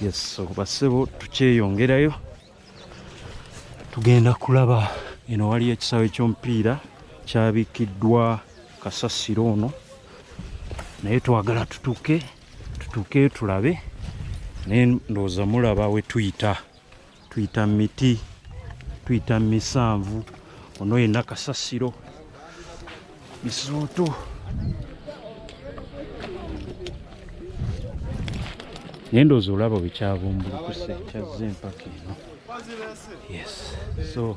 yes basebo tukyeyongerayo tugenda kulaba eno waliyo ekisaawe ekyomupiira kyabikiddwa kasasiro ono naye twagala tutuuke tutuukeyo tulabe naye ndowooza mulaba wetuyita tuyita miti tuyita misanvu ono yena kasasiro misooto naye ndoozi olaba wekyabumbulukuse kyazze empaka eno yes so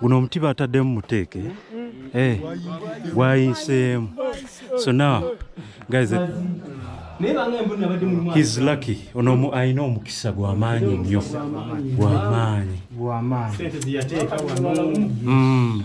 guno omuti bataddemu muteeke eh, gwayinseemu so now guys eh, his lucky ono alina omukisa gwamaanyi nnyo gwamaanyi hmm.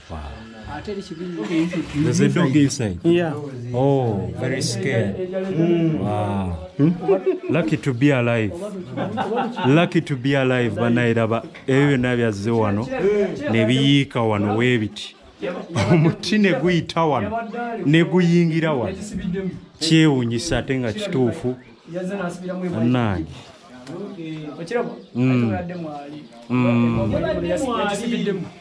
Does it dog inside? Yeah. Oh, very scared. Mm. Wow. Hmm? Lucky to be alive. Lucky to be alive banayiraba ebyo byonna byazze wano ne biyiika wano weebiti omuti ne guyita wano ne guyingira wano kyewunyisa ate nga kituufu nange okiraba ate oladde mwali ekisibiddemu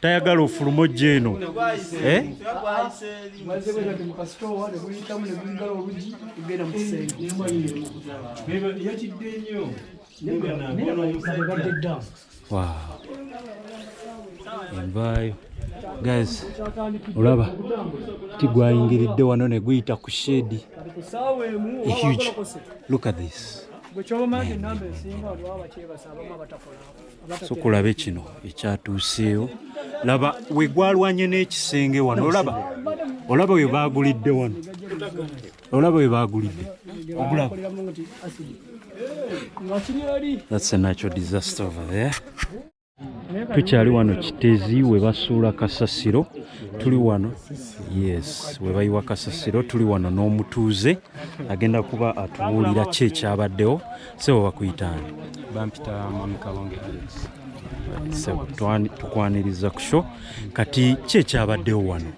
tayagala ofuluma ojja eno eh? envaayo guys olaba ti gwayingiridde wano ne guyita ku shedi huge look at this sokulabe kino ekyatuuseewo laba wegwalwanye n'ekisenge wano olaba olaba we baagulidde wano olaba we baagulidde ogulaba that's a natural disaster over there tukyali wano kitezi we basuula kasasiro tuli wano yes we bayiwa kasasiro tuli wano n'omutuuze agenda kuba atubuulira ki ekyabaddewo sebo bakuyitaani bampita mwami kalonge alex sebo tukwaniriza ku sho kati ki ekyabaddewo wano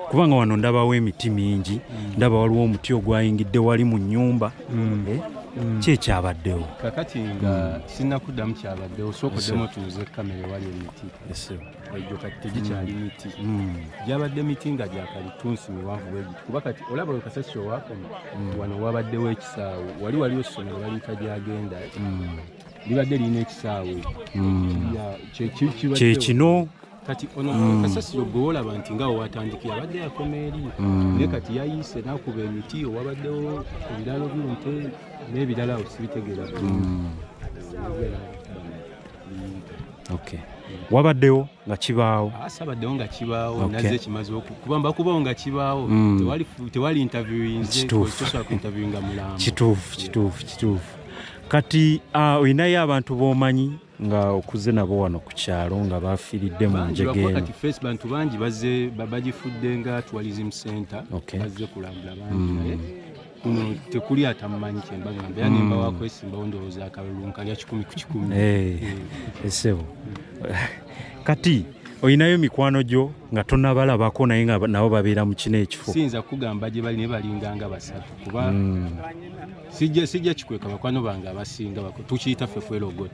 kubanga wano ndabawo emiti mingi ndaba waliwo omuti ogwayingidde wali mu nyumba mm. eh? Mm. ki ekyabaddewo kakati nga mm. sinakuddamu kyabaddewo sooka oddemu otuuze kamera ewali emiti egyo kati tegikyali mm. miti mm. gyabadde miti nga gyakalitunsi miwanvu bwegiti kuba kati olaba oyo kasasi owakoma mm. wano wabaddewo ekisaawe wali waliwo essomero baliyita gyagenda libadde lirina ekisaawe kyekino kati ono mm. kasasiro gwe olaba nti nga wewatandikira abadde yakoma eri mm. naye kati yayiise nakuba emiti owabaddewo ebiralo byonte n'ebirala osibitegeera mm. okay. wabaddewo nga kibaawo ah, sabaddewo nga kibaawo okay. naze kimaze kuba mbakubawo nga kibaawo mm. tewali, tewali interviewinzekituufuinterviewinga mulambo kituufu kituufu kituufu kati ah, olinayo uh, abantu bomanyi nga okuze nabo wano ku kyalo nga bafiiridde mu njegeeno face bantu bangi bazze bagifudde nga tourism center okay. bazze kulambula bangi mm. kuno tekuli atammanyi kyemba ngamba yani mm. mbawa kwesimbawo ndowooza akalulu nkalya kikumi ku kikumi eh, eh. esebo kati olinayo mikwano gyo nga tonabalabako naye nga nabo babeera mu kino ekifo siyinza kugamba gye bali naye balinganga basatu kuba mm. sijja kikweka bakwano bange abasinga tukiyita fefwelogot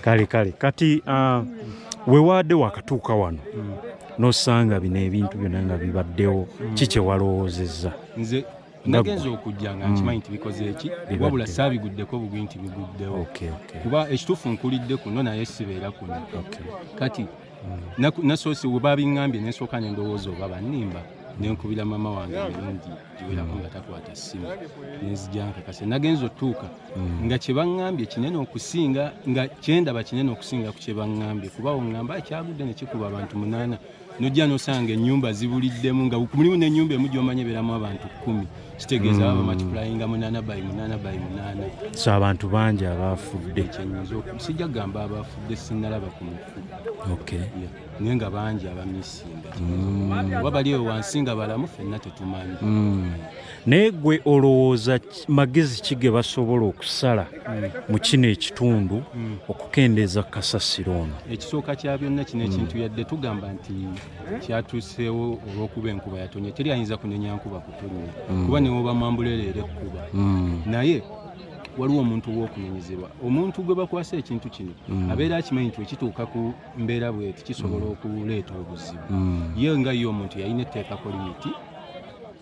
kale kale kati uh, wewaadde wakatuuka wano mm. nosanga bino ebintu byona nga bibaddewo mm. kikyewalowoozezza nze nagenza okujja nga nkimanyi mm. nti bikoze eki wabula saabiguddeko bugwi nti biguddewo kuba ekituufu nkulidde kuno naye sibeera kuno kati nasoose we babiŋŋambye ne nsooka ne ndowooza oba bannimba ne nkubira maama wange emirundi giwerako nga takwata ssimu ne nzija nkakase nagenza otuuka mm. nga kye baŋŋambye kinene okusinga nga kyendaba kinene okusinga ku kye baŋŋambye kuba oŋŋamba ekyagudde ne kikuba abantu munaana nojja nosanga ennyumba zibuliddemu nga mulimu n'ennyumba emu gyomanya ebeeramu abantu kkumi kitegeeza baba mm. matikulayinga munaana bayi munaana bayi munaana so abantu bangi abaafudde sijja kugamba abaafudde sinalaba ku naye nga bangi abamisinga mm. oba bali ewe wansi nga balamu fenna tetumanyi mm. naye gwe olowooza magezi ki ge basobola okusala mm. mu kino ekitundu okukendeeza ku kasasiro ono ekisooka kya byonna kino ekintu yadde tugamba nti kyatuuseewo olw'okuba enkuba yatonye teri ayinza kunenya nkuba kutonnya kuba newobamwambulereera ekkuba naye waliwo omuntu ow'okunenyezebwa omuntu gwe bakwasa ekintu kino mm. abeera akimanyi nti ekituuka ku mbeera bweti kisobola mm. okuleeta obuzibu mm. ye nga ye omuntu yalina etteeka ku limiti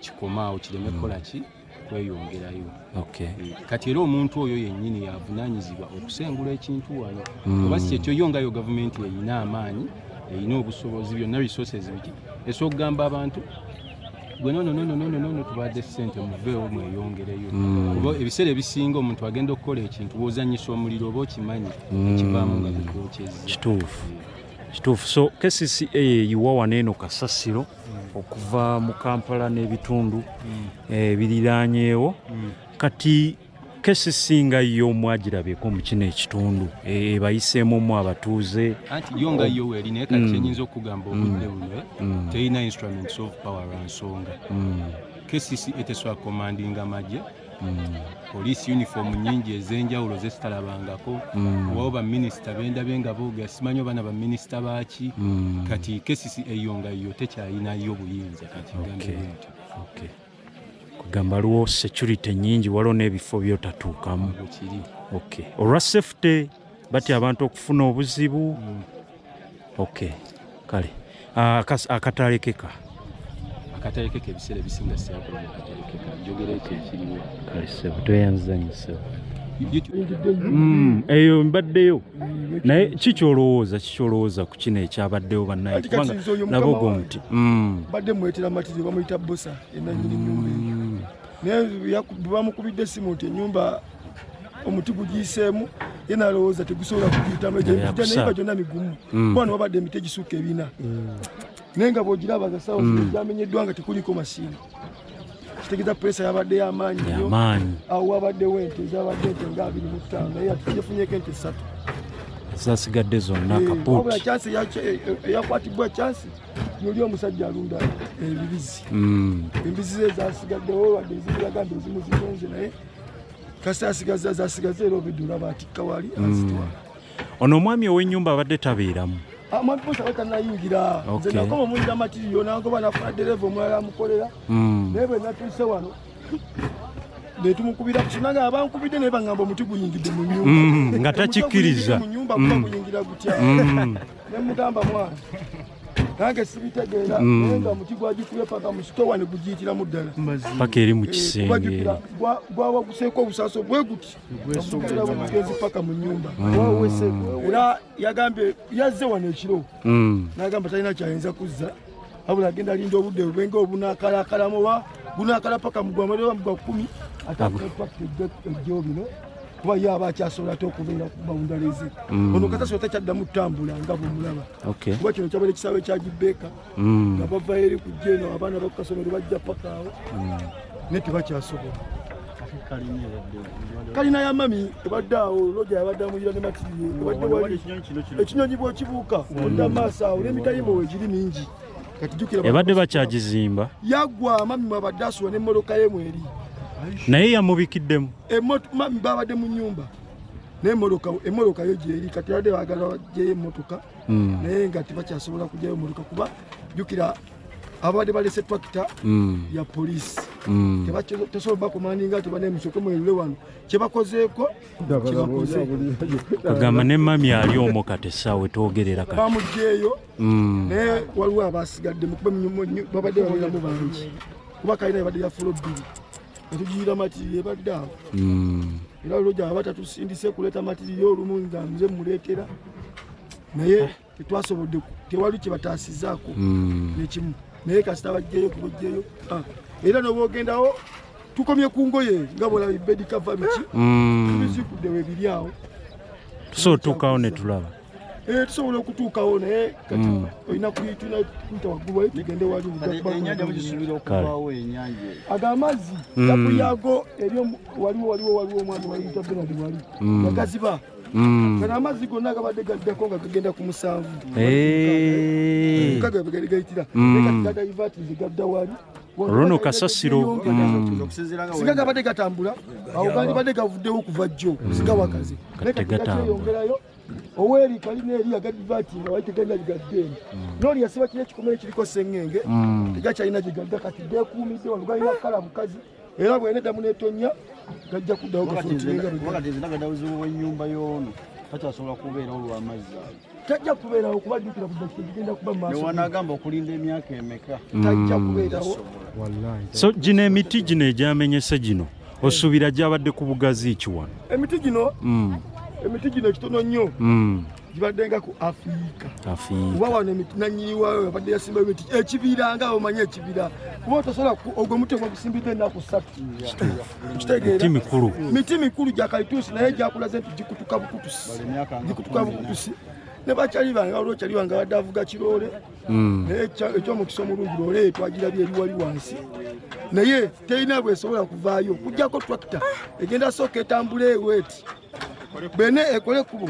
kikomaawo kireme mm. kukola ki kweyongerayo okay. Mm. kati era omuntu oyo yennyini yavunanyizibwa okusengula ekintu wano mm. oba si kyekyo yo ngayo gavumenti erina amaanyi erina obusobozi byonna resources biki esookugamba abantu gwe nono nono nono nono tubadde sente muveewo mweyongereyo mm. kuba ebiseera ebisinga omuntu agenda okukola ekintu wozanyisa omuliro oba okimanyi mm. kivaamu nga bikwokyeza kituufu kituufu so kcca yeyiwa wano eno kasasiro mm. okuva mu kampala n'ebitundu ebiriranyeewo kati kesi singa yo mwagirabeko mu kino ekitundu e, ebayiseemu mu abatuuze anti yo nga yo weri naye kati mm. kyenyinza okugamba mm. obudde buno eh? mm. terina instruments of power lwa nsonga kesisi eteswa commanding amagye poliisi uniform nyingi ez'enjawulo zezitalabangako owawo baminisita bendabe nga boogera simanyi oba na baminisita baaki kati kesisi eyo nga yo tekyayinayo obuyinza kati gambe nti kugamba lwo security nyingi waliwo n'ebifo byotatuukamu ok olwa safety batya abantu okufuna obuzibu mm. ok kale ah, akatalekeka uh, akatalekeka ebiseera ebisinga siyakula akatalekeka njogera ekyo ekiriwo kale sebo tweyanzizanyisebo mm, eyo mbaddeyo naye kikyolowooza kikyolowooza ku kino ekyabaddewo bannaye kubanga laba ogwo muti mm. badde mwetera matiri bamuyita bosa enanyini nyumba eyo mm. naye bamukubidde esimu nti enyumba omuti gugiyiseemu ye nalowooza tegusobola kugiyitamu egyo emiti naye ba gyonna migumu mm. bwana wabadde emiti egisukka ebina naye nga bwogiraba nga sawa mm. gyamenyeddwa nga tekuliko masiina kitegeza puresa yabadde yamaanyi nyo awo wabaddewo ente ezabadde ente nga abiri mu ttaano naye atujefunyeko ente ssatu zasigadde zonna eh, kapuwabula kyansi eyakwatibwa eh, eh, kyansi yoli omusajja alunda ebibizi mm. embizi ze zasigaddewo wadde ezibiraga nti ezimu zigenze naye kasi asigaza zasigaza era obidula batikka wali azitwala mm. Ono omwami ow'ennyumba abadde tabeeramu. Amwami Bosa bwe tannayingira. Nze nakoma omuwulira matiriyo nangoba nafuna ddereeva omulala amukolera. Hmm. Naye bwe natuuse wano ne tumukubira ku kinanga abankubidde naye bangamba omuti guyingidde mu nyumba hmm, nga takikkiriza mu nyumba kuba hmm. guyingira gutya ne mugamba mwana nange sibitegeera mm. naye nga muti gwagikubye paka musitowa ne gugiyitiramu ddala paka eri mu eh, kisenge gwawaguseeko obusaaso bwe guti mugezi paka mu nyumba mm. era yagambye yazze wano ekiro mm. nagamba talina kyayinza kuzza abula agenda alinda obudde bwenga obunakalakalamu oba gunakala paka mugwamaoba mugwa kumi atajjo bino kuba ye aba akyasobola ate okubeera ku bawundaleze mm. ono kasasota kyaddamu kutambula nga bwemulaba kuba kino kyabaera ekisaawe kyagibeeka mm. nga bava eri kujja eno abaana bakukasomero bajja paka awo mm. naye tebakyasobola kalina ya mami ebadde awo loja yabadde amuyira ne matiye ebadde wali ekinyonyi bwokibuuka mm. odda maaso awo n'emitayimo wegiri mingi ebadde bakyagizimba yagwa mami mwabadde asuwa n'emmoloka ye mweri naye yamubikiddemu mami babadde mu nyumba naye emoloka yo gyeri kati yabadde bagala gyeyo emmotoka mm. naye nga tebakyasobola kujayo muluka kuba jukira ababadde balese tractor mm. ya police mm. tebasobola bakomandinga ti banemusoke mwelule wano kyebakozeeko agamba ne mami ali omu kati saawe twogerera kati bamugyeyo mm. naye waliwo abasigadde mukuba babadde baberamu bangi kuba kalina ebadde yafula bbiri tujiira matiriyo ebadde awo hmm. era olwo gyaba tatusindise kuleeta matiriyo olumu nga nze muleetera naye eh. tetwasobodde tewali kyebataasizaako hmm. nekimu naye kasita bajjeyo kubajjeyo ah. era nobaogendawo tukomye ku ngoye nga bwolaba ibedikava biki hmm. tubizikuddewo ebiri awo so tukawo netulaba Eh, tusobola okutuukawo naye kati hmm. olina kuyitula kuyita waggulu wayo tugende wali ago amazzi hmm. gakuyago eri waliwo waliwo waliwo omwana wayita benadi wali hmm. agaziba kana amazzi gonna gabadde gaddako nga gagenda ku musanvu eh. gagayitira gadaivatize gadda wali runo kasasiro mm. singa mm. gabadde gatambula awo gandibadde gavuddewo okuva jjo sigawakaze oweri kalina eri agadivati nga wali tegenda gigaddeeni mm. noli yasiba kino ekikomere kiriko sengenge mm. tegakyalina gigadda kati gekuumidde wano galina kukala mukazi era bwena eddamu netonya gajja kuddawoenyumba yono takyasobola kubeerawo lwamazzi ayo tajja kubeerawo kuba jjukira kugenda kuba mawanagamba okulinda emyaka emeka tajja mm. kubeerawo so gino emiti gino egyamenyese gino osuubira gyabadde ku bugazi ki wano emiti gino mm. emiti gino ekitono nnyo mm. gibadde nga ku afiika oba wano emiti nanyini wayo abadde yasimba emiti ekibira nga omanyi ekibira kuba otasobola ogwo muti ogwo gusimbidde ennaku ssatu kitegeera miti mikulu gya kalituusi naye gyakulaze nti gikutuka bukutusi gikutuka bukutusi ne bakyali bange waliwo kyali bange abadde avuga kiroole mm. naye ekyomukisa omulungi lole twagirabye eri wali wansi naye terina bwesobola kuvaayo kujjako tractor egenda sooka etambula eweti bene ekole kubo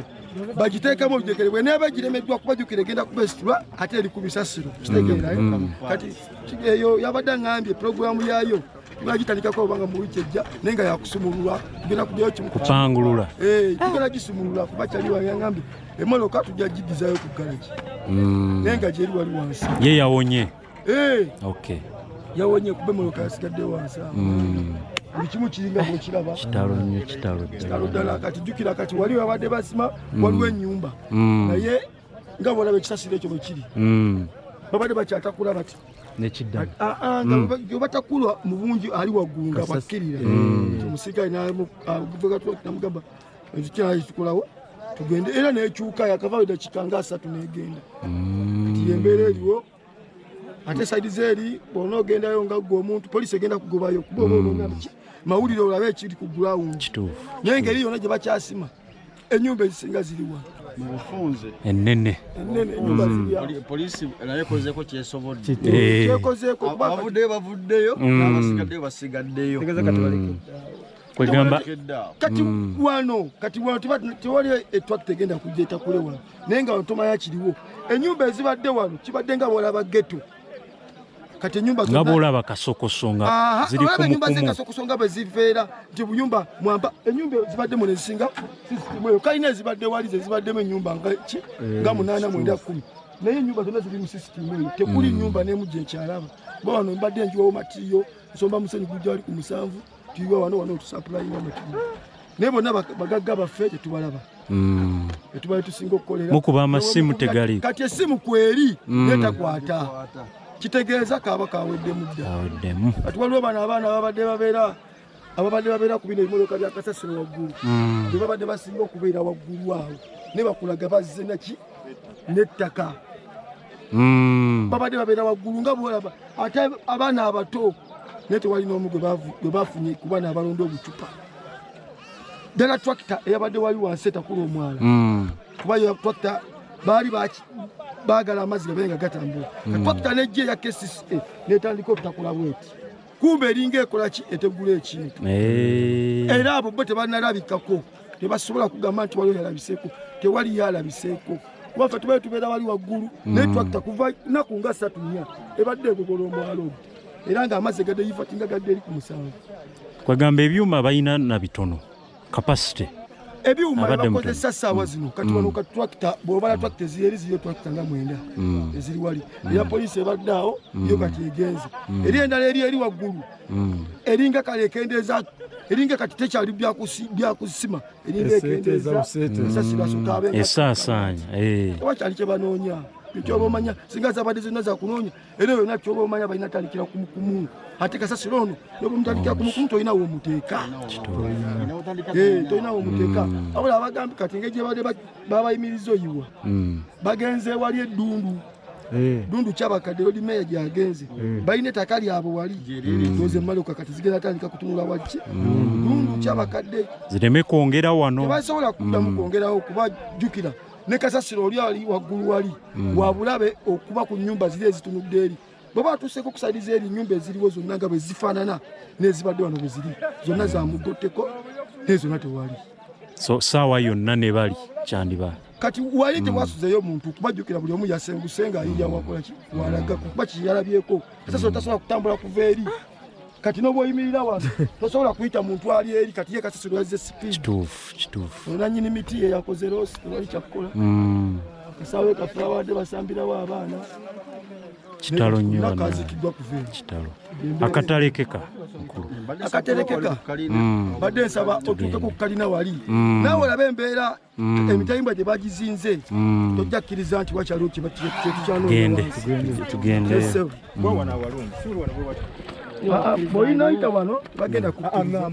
bagiteekamu olujegere bwe neeba giremeddwa kubajukira egenda kubesitulwa ate eri ku bisasiro kitegeerayo mm, mm. kati eyo yabadde aŋambye pulogulaamu yaayo tunagitandikako obanga mu wiiki ejja naye nga yakusumululwa tugenda kuddayo kimukupangulula eh, tugenda gisumulula kuba kyali wayangambye emoloka tujja gidizayo ku galagi mm. naye nga gyeri wali wansi ye yawonye eh. yawonye kuba emoloka yasigadde wansi mm. buli kimu kiringa bwekiraba kitalo nnyo kitalo ddala kati jjukira kati wali wabadde basima mm. waliwo ennyumba naye nga bwolaba ekisasiro ekyo bwekiri hmm. babadde bakyatakula bati nekiddamu ah, ah, nga hmm. batakulwa mu bungi ali waggulu nga bakkirira hmm. omusirikale namugamba ekikyali kikulawo tugende era nekyuka yakavaayo dakika nga asatu negenda kati yembeera eriwo ate saidi zeeri bwona ogendayo nga gwe omuntu polisi egenda kugobayo kuba oba hmm. olonga biki mawulire olabe ekiri ku ground kituufu naye ngeri yona gye bakyasima enyumba ezisinga ziriwa mubufunze enene enene enyumba hmm. ziriwa polisi naye ekozeko kyesobodde eh. kyekozeko bavuddeyo bavuddeyo hmm. n'abasigaddeyo basigaddeyo kwegamba kati mm. wano kati wano tewali etwak tegenda kujja etakule wano naye nga wantomaya kiriwo enyumba ezibadde wano kibadde nga bwolaba geto kati enyumba nga bwolaba kasokosonga ziri kumukumu zekasokusonga bweziveera nti buyumba mwamba enyumba ezibadde muno ezisinga sisitimueyo kalina ezibadde wali zezibaddemu enyumba nga ki eh, nga munaana mwenda kumi naye enyumba zonna ziri mu sisitimu eyo tekuli mm. nyumba nemu gyekyalaba bawano mbadde njiwawo matiyo nsomba musenyu gujja wali ku musanvu tuyiwa wano wano tusapulayinga mwe tuli naye bonna bagagga baffe tetubalaba mm. etubale tusinga okukolera mukuba amasimu tegali kati esimu kweri mm. netakwata kitegeeza kaaba kaweddemu dda kati waliwo bano abaana babadde babeera ababadde babeera ku bino ebimotoka byakasasiro waggulu mm. bebabadde basinga okubeera waggulu awo nebakulaga bazze naki n'ettaka hmm. babadde babeera waggulu nga bwolaba ate abaana abato naye tewali n'omu gwe bafunye kuba naabalonda obucupa ddala tracta eyabadde wali wansi etakula omwala hmm. kuba tracta baali baagala amazzi gabeere nga gatambula hmm. tracta nejja eya kcca netandika obutakula bweti kumbe eringa ekola ki etegula ekintu eh. era abo bo tebanalabikako tebasobola kugamba nti waliwo yalabiseeko tewali yalabiseeko wafe tubae tubeera wali waggulu mm. naye twakita kuva naku nga satu nya ebadde egogola omwalo era nga amazzi egadde yifatinga gadde eri ku musango kwegamba ebyuma balina na bitono capacity ebyuma ebakozesa essaawa zino mm. kati wano mm. katrakita bwobala mm. trakita eziyeri ziriyo trakita nga mwenda eziri wali eya poliisi ebadde awo yo kati egenze eri endala eri eri waggulu eringa kale ekendeeza eringa kati tekyali byakusima eringa ekendeezaesasibasotaabe esaasaanya eh. oba kyali kyebanoonya ekyoba omanya singa zabadde zonna zakunoonya era oyo nakyo oba omanya balina tandikira kumukumu ate kasasiro ono nobumutandikira kumukumu tolina womuteeka eh, tolina womuteeka mm. abula abagambi kati engeri gyebadde babayimiriza oyiwa mm. bagenze wali eddundu eh. dundu kyabakadde oli meya gyagenze eh. balina etaka lyabwe wali mm. oze maloka kati zigenda tandika kutunula wakki dundu kyabakadde zireme kwongera wano tebasobola kuddamu kwongerawo kubajjukira ne kasasiro oli ali waggulu wali mm. wabulabe okuba ku nyumba ziri ezitunudde eri bweba atuseeko okusaliza eri nyumba eziriwo zonna nga bwe zifaanana nezibadde wano bwe ziri zonna zamugotteko naye zonna tewali so saawa yonna ne bali kyandiba kati wali mm. tewasuzeyo muntu kubajjukira buli omu yasenguse nga ayiyawakolaki mm. walaga kuba kiyalabyeko kasasiro tasobola kutambula kuva eri kati nobwoyimirira wano tosobola kuyita muntu ali eri kati ye kasasiro yazze sipiidkituufu kituufu onanyini miti ye yakoze loosi tewali kyakukola mm. kasawe kaffe awadde basambirawo abaana kitalo nyonakazikidwa kuva kitalo akatalekeka mukulu akaterekeka mm. badde nsaba otuuke ku kalina wali mm. nawe olabe embeera mm. emitayimbwa gye bagizinze mm. tojja kkiriza nti wakyaliwo kyetukyanoolinaita wano bagenda kuamba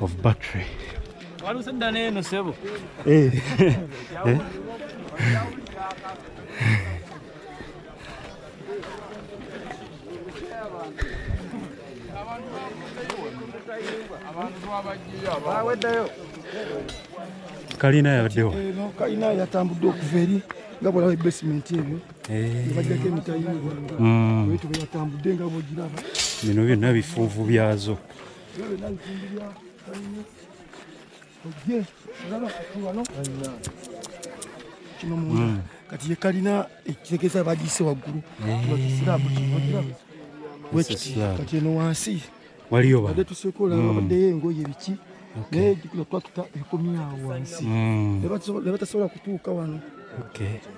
of battery walusadda neeno sebo eh. eh. kalina yabaddewo kalina yatambudde okuva eri nga bwolaba ebasementi ebyo eh. bajjako emitayimbwa mm. bwetube yatambudde nga bwogiraba bino byonna bifuuvu byazo kino munda hmm. kati ye kalina ekitegeeza bagiyise waggulu bakisiraabu eh. kiogiramu wekiti kati eno wansi waliyo bade tusekola hmm. babaddeyo engoye biki naye no twatuta ekomyawo wansi hmm. ne batasobola kutuuka wano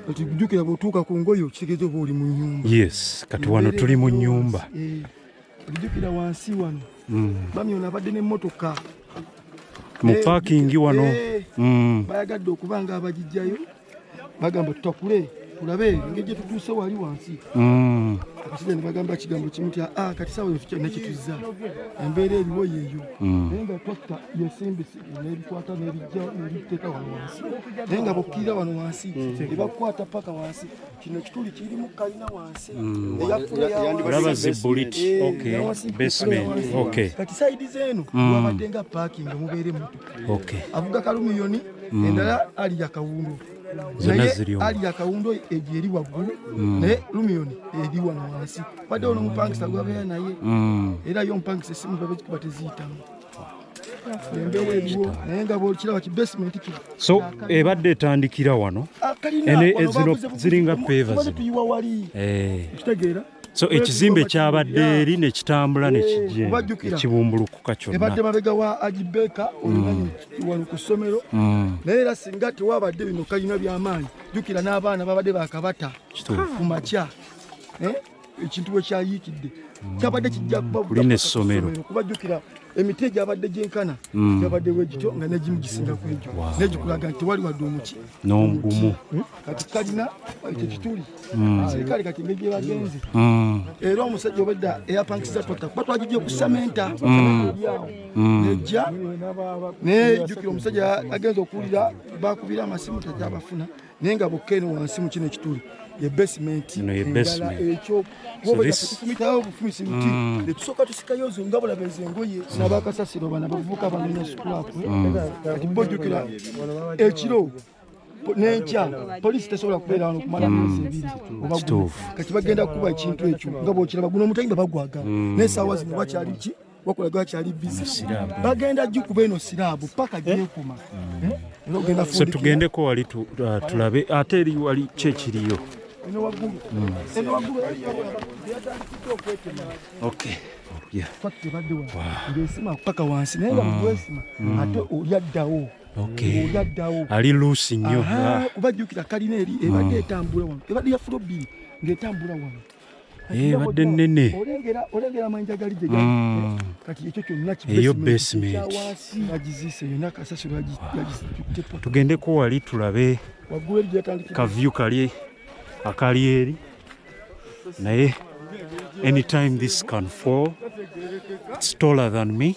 kati jjukira bwotuuka ku ngoye okitegeeza oba oli mu nyumba yes kati wano tuli mu nyumba eh. Ojjukira wansi wano mm. mami ono abadde n'emmotoka mu eh, paakingi wano eh, mm. bayagadde okuba nga abagijjayo bagamba tutakule tulabe engeri gye tutuuse wali wansi mm. akasajja ne bagamba kigambo kimu tya ah, kati saawa eyo tukyalina kituzza embeera eriwo yeeyo naye nga twatta yesimbisi nebikwata nebijja nebiteeka wano wansi naye nga bokkirira wano wansi ebakukwata paka wansi kino kituli kirimu kalina wansi mm. eyafulaba zibulit eh, basement okay kati side zenu mm. wabatenga parking mubeere mutu okay avuga kalumiyoni mm. endala ali yakawundu naye ali yakawundu egyo eri waggulu naye lumiyoni eri wano wansi wadde ono omupangisa gwabeera naye era yo omupangisa esimu babe kikuba teziyitamu so ebadde etandikira wano ah, ezino ziringa peva zino so ekizimbe kyabadde eri nekitambula eh, nekibumbulukuka kyonnaebadde mabega wa agibeeka mm. wano ku ssomero mm. naye era singa tewabadde bino kalina byamaanyi jukira n'abaana babadde bakabata ku makya eh? ekintu bwe kyayiikidde kyabadde kijja kubabulina essomero kubajjukira emiti egyabadde gyenkana mm. gyabadde wegityo nga negimu gisinga ku egyo negikulaga nti tewali wadde omuki n'ogumu hmm? kati kalina ekyo kituli mm. serikale kati engeri gyebagenze mm. era omusajja obadda eyapankisiza tota kuba twagijja okusamenta lyawo nejja nejjukira omusajja agenza okuwulira bakubira amasimu takyabafuna naye nga bokka eno wansi mu kino ekituli ye basement endala ekyo wobatukumitawo obufumisi buti mm. netusooka tusikayo zo nga bulaba ezo engoye mm. nabakasasiro bana bavubuka banonya sukulapwe mm. kati bojjukira ekiro nenkya poliisi tesobola kubeera wano kumala mm. myezi ebiri obakati bagenda kukuba ekintu ekyo nga bwokiraba guno omutayimba bagwaga mm. naye saawa zino bakyali ki wakola gwa chali busy bagenda jikuba eno sirabu paka je eh? kuma mm. eh? eno genda fundi so tugende ko wali tu, uh, tulabe ate eri wali che kiriyo eno wagulu mm. eno wagulu okay yeah kwati bade wa ndio sima paka wansi nenda mm. mgwesima mm. ate uyadawo oyaddawo ali luusi nnyo ah. kubajjukira kalina eri ebadde etambula wano ebadde yafuro bbiri ng'etambula wano Eh, badde nnene mm. eyo basementugendeko wali tulabe kavyu kali akali eri naye anytime this can fall its taller than me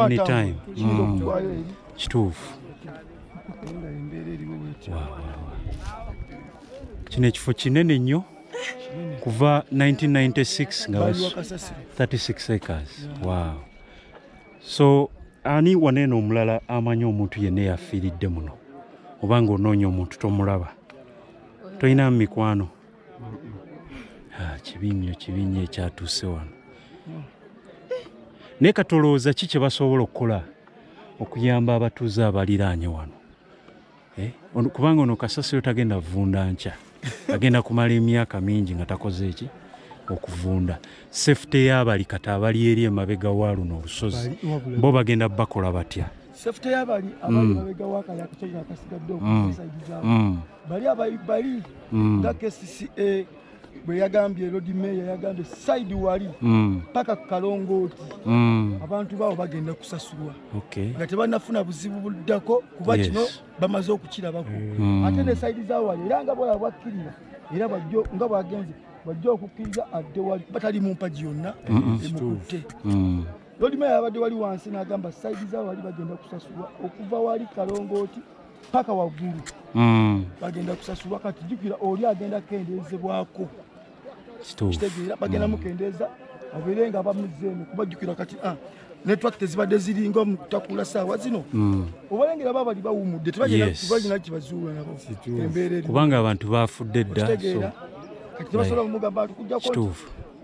anytime mm. kituufu kino ekifo kinene nnyo kuva 1996 nga 36 acres wow so ani waneeno omulala amanyi omuntu yenna eyafiiridde muno oba nga onoonya omuntu tomulaba tolina mu mikwano Ah, kibi nnyo kibi nnyo ekyatuuse wano naye katolowooza ki kye basobola okukola okuyamba abatuuze abaliraanye wano eh, kubanga ono kasasiro tagenda vunda nkya agenda kumala emyaka mingi nga takoze eki okuvunda safety y'abali kati abali eri emabega wa luno olusozi bo bagenda bakola batya safety y'abali abali mm. mabega wa kayakityo nga kasigadde mm. okusayidizaao mm. bali abaibali mm. nga kcca bwe yagambye lodi meya yagambye saidi wali mm. paka mm. kukalongooti mm. abantu baabo bagenda kusasulwa okay. nga tebanafuna buzibu buddako kuba kino yes. bamaze okukirabako mm. ate ne saidi zawali era nga bwala bwakkirira era bajjo nga bwagenze bajja okukkiriza adde wali batali mu mpagi yonna emukutte mm. lodi meya yabadde wali wansi n'agamba saidi zawali bagenda kusasulwa okuva wali kalongooti paka waggulu mm. bagenda kusasulwa kati jukira oli agenda kukendeezebwako kitegeera bagenda mm. mukendeeza abeere nga bamuzeemu kuba jukira kati ah, network tezibadde ziringa mukutakula saawa zino mm. obalengera ba bali bawumudde tebaina kibazuula nabo embeerakubanga abantu bafudde dda kati tebasobola kumugamba ati kujjako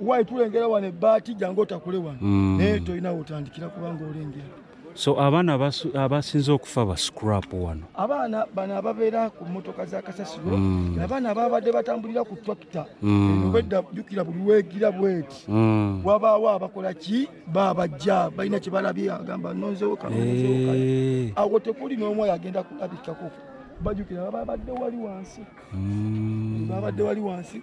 wayi tulengera wano ebbaati jangu otakule wano naye tolinawo otandikira kubanga olengera so abaana abasinze okufa ba scrap wano abaana bano ababeera ku motoka za kasasiro mm. abaana ababadde batambulira ku tractor mm. obwedda jukira buli wegira bweti mm. wabaawo abakola ki babajja balina kyebalabye agamba nonzewo kanonzewo eh. awo tekuli n'omu oyo agenda kulabikako bajukira babadde wali wansi babadde wali wansi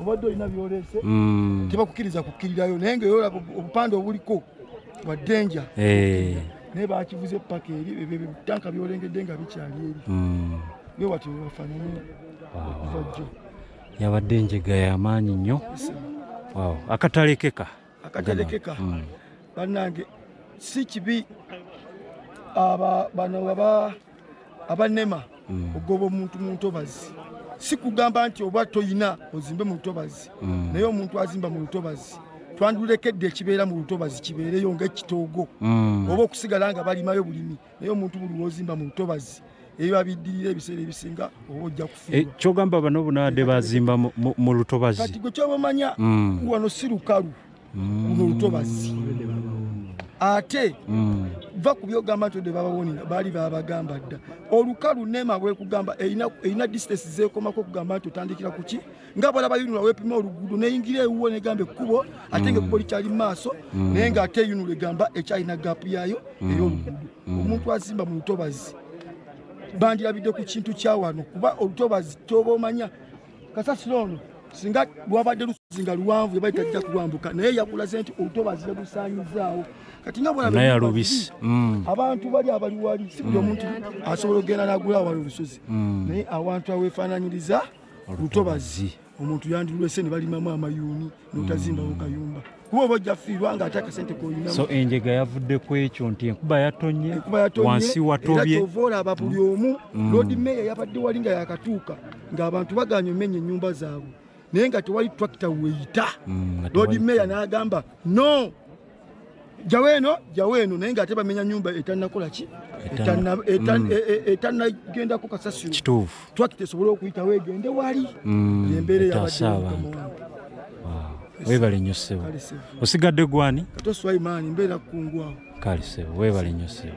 obadde olina byolese mm. tebakukiriza kukkirirayo naye nga yolaba obupande obuliko bwa denja eh. naye bakivuza epaka eri ebyotanka byolengedde nga bikyali eri mm. bwe watyo webafanana okuvajjo yabadde enjega yamaanyi nnyo akatalekeka akaterekeka mm. banange si kibi aba bano baba abanema mm. ogoba omuntu muntobazi si kugamba nti oba toyina ozimbe mu lutobazi mm. naye omuntu azimba mu lutobazi twandulekedde ekibeera mu lutobazi kibeereyo nga ekitoogo mm. oba okusigala nga balimayo bulimi naye omuntu buli wozimba mu lutobazi ebiba biddirira ebiseera ebisinga oba ojja kufuuwa eh, kyogamba bano bunaade bazimba mu lutobazi kati gwe kyoba omanya mm. wano si lukalu mm. luno lutobazi ate mm. va ku byogamba nti ode babawonera baali babagamba dda olukalu nema bwekugamba erina distance zekomako okugamba nti otandikira kuki nga bwala bayunula wepima oluguudo neyingira ewuwo negamba ekkubo ate nga ekkubo likyali mu maaso mm. naye nga ate eyunula egamba ekyalina gaapu yaayo mm. ey'oluguudo mm. omuntu azimba mu lutobazi bandirabidde ku kintu kyawano kuba olutobazi kyoba omanya kasasiro ono singa lwabadde lusozi nga luwanvu yabali tajja kulwambuka naye yakulaze nti olutobazi yalusaanyizaawo kati nga bwalabisi abantu bali abali wali si buli omuntu asobola okugenda nagula awala olusozi naye awantu awefaananyiriza lutobazi omuntu yandilwese ne balimamu amayuuni notazimbawo mm. kayumba kuba oba ojja fiirwa nga ate akasente koyinamu so enjega yavudde ku ekyo nti enkuba yatonye wansi watobye era olaba buli mm. omu mm. lord mayor yabadde wali nga yakatuuka ng'abantu baganye omenya ennyumba zaabwe naye nga tewali tractor weyita lord mayor n'agamba no jawo eno jawo eno naye nga ate bamenya nyumba etanakola ki etanagendako mm. e, e, kasasiro kituufu twakita esobole okuyitawo egende wali mm, embeera eyabadde abantu webale nnyo ssebo osigadde gwani katoswaimaani mbeera kukungwawo kale ssebo webale nnyo ssebo